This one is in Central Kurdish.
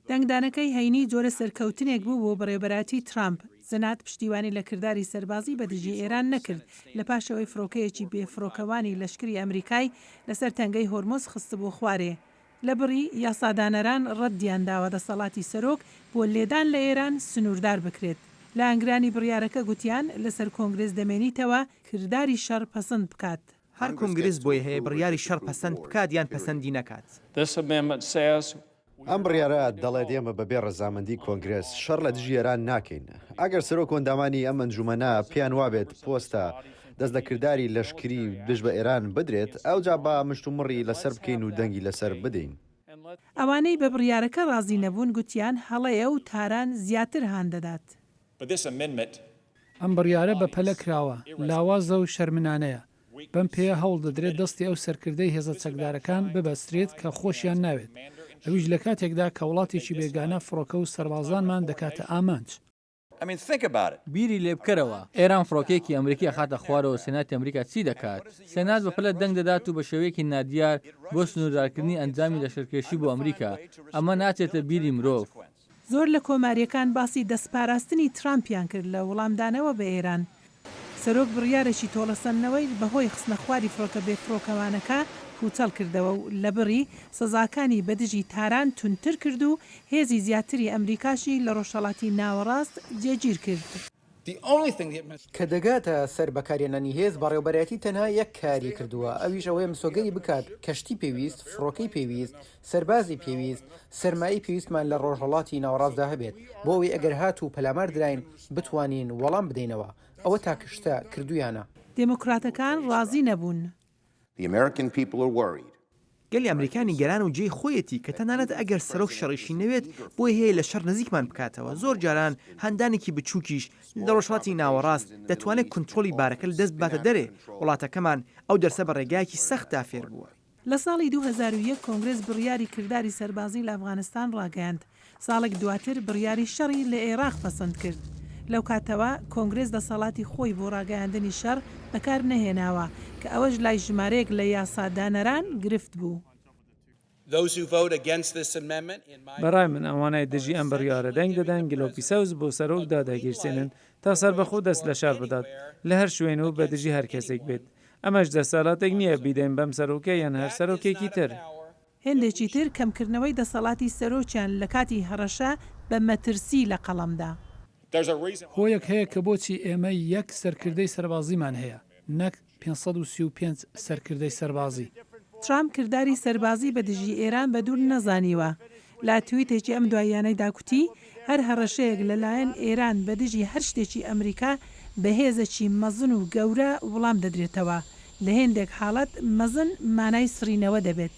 دەنگدانەکەی هەینی جۆرە سەرکەوتنێک بوو بۆ بەڕێوبەرایەتی ترامپ. زنات پشتیوانی لە کرداری سەربازی بە دژی ئێران نەکرد لە پاش ئەوەی فڕۆکەیەکی بێفڕۆکەوانی لەشکری ئەمریکای لەسەر تەنگەی هۆرمز خستبوو خوارێ. لە بڕی یاسادانەران ڕەدیان داوە دەسەڵاتی سەرۆک بۆ لێدان لە ئێران سنووردار بکرێت. لایەنگرانی بڕیارەکە گوتیان لەسەر کۆنگرێس دەمێنیتەوە کرداری شەڕ پەسند بکات. هەر کونگرس بۆی هەیە بڕیاری شەڕ پەسەند بکات یان پەسەندی نەکات. ئەم بڕیارە دەڵێت ئێمە بەبێ ڕەزامەندی کۆنگرێس شەڕ لە دژی ئێران ناکەین. ئەگەر سەرۆک و ئەندامانی ئەم ئەنجومەنە پێیان وابێت پۆستە دەست لە کرداری لەشکری دژ بە ئێران بدرێت، ئەوجا با مشتومڕی لەسەر بکەین و دەنگی لەسەر بدەین. ئەوانەی بە بڕیارەکە ڕازی نەبوون گوتیان هەڵەیە و تاران زیاتر هان دەدات But this amendment. ئەم بڕیارە بەپەلە کراوە، لاوازە و شەرمنانەیە. بەم پێیە هەوڵ دەدرێت دەستی ئەو سەرکردەی هێزە چەکدارەکان ببەسترێت کە خۆشیان ناوێت، ئەویش لە کاتێکدا کە وڵاتێکی بێگانە فڕۆکە و سەربازانمان دەکاتە ئامانج. بیری لێ بکەرەوە، ئێران فڕۆکەیەکی ئەمریکی ئەخاتە خوارەوە سێناتی ئەمریکا چی دەکات؟ سێنات بەپەلە دەنگ دەدات و بە شێوەیەکی نادیار بۆ سنووردارکردنی ئەنجامی لەشکرکێشی بۆ ئەمریکا، ئەمە ناچێتە بیری مرۆڤ. زۆر لە کۆمارییەکان باسی دەستپاراستنی ترامپیان کرد لە وڵامدانەوە بە ئێران. سەرۆک بڕیارێکی تۆڵەسەندنەوەی بەهۆی خستنەخواری فڕۆکە بێفڕۆکەوانەکە پووچەڵ کردەوە و لەبڕی سزاکانی بە دژی تاران توندتر کرد و هێزی زیاتری ئەمریکاشی لە ڕۆژهەڵاتی ناوەڕاست جێگیر کرد. کە دەگاتە سەر بەکارهێنانی هێز، بەڕێوەبەرایەتی تەنها یەک کاری کردووە، ئەویش ئەوەیە مسۆگەری بکات کەشتی پێویست، فڕۆکەی پێویست، سەربازی پێویست، سەرمایەی پێویستمان لە ڕۆژهەڵاتی ناوەڕاستدا هەبێت، بۆ ئەوەی ئەگەر هات و پەلامار دراین بتوانین وەڵام بدەینەوە، ئەوە تاکە شتە کردوویانە. دێموکراتەکان ڕازی نەبوون. گەلی ئەمریکا نیگەران و جێی خۆیەتی کە تەنانەت ئەگەر سەرۆک شەڕیشی نەوێت بۆی هەیە لە شەڕ نزیکمان بکاتەوە، زۆر جاران هاندانێکی بچووکیش لە ڕۆژهەڵاتی ناوەڕاست دەتوانێت کونترۆڵی بارەکە لە دەست بباتە دەرێ، وڵاتەکەمان ئەو دەرسە بە ڕێگایەکی سەختدا فێربووە. لە ساڵی دوو هەزار و یەک کۆنگرێس بڕیاری کرداری سەربازی لە ئەفغانستان ڕاگەیاند، ساڵێک دواتر بڕیاری شەڕی لە ئێراق پەسەند کرد. لەو کاتەوە کۆنگرێس دەسەڵاتی خۆی بۆ ڕاگەیاندنی شەڕ بەکار نەهێناوە، کە ئەوەش لای ژمارەیەک لە یاسادانەران گرفت بوو. بە ڕای من ئەوانەی دژی ئەم بڕیارە دەنگ دەدەن گلۆپی سەوز بۆ سەرۆک دادەگیرسێنن تا سەربەخۆ دەست لە شەڕ بدات لە هەر شوێن و بە دژی هەر کەسێک بێت. ئەمەش دەسەلاتێک نییە بیدەین بەم سەرۆکە یان هەر سەرۆکێکی تر. هێندێکی تر کەمکردنەوەی دەسەڵاتی سەرۆکیان لە کاتی هەڕەشە بە مەترسی لە قەڵەمدا. هۆیەک هەیە کە بۆچی ئێمە یەک سەرکردەی سەربازیمان هەیە نەک پێنج سەد و سی و پێنج سەرکردەی سەربازی. ترامپ کرداری سەربازی بە دژی ئێران بە دوور نەزانیوە. لە تویتێکی ئەم دواییانەیدا کوتی، هەر هەڕەشەیەک لە لایەن ئێران بە دژی هەر شتێکی ئەمریکا بە هێزەکی مەزن و گەورە وڵام دەدرێتەوە. لە هێندێک حاڵەت مەزن مانای سڕینەوە دەبێت.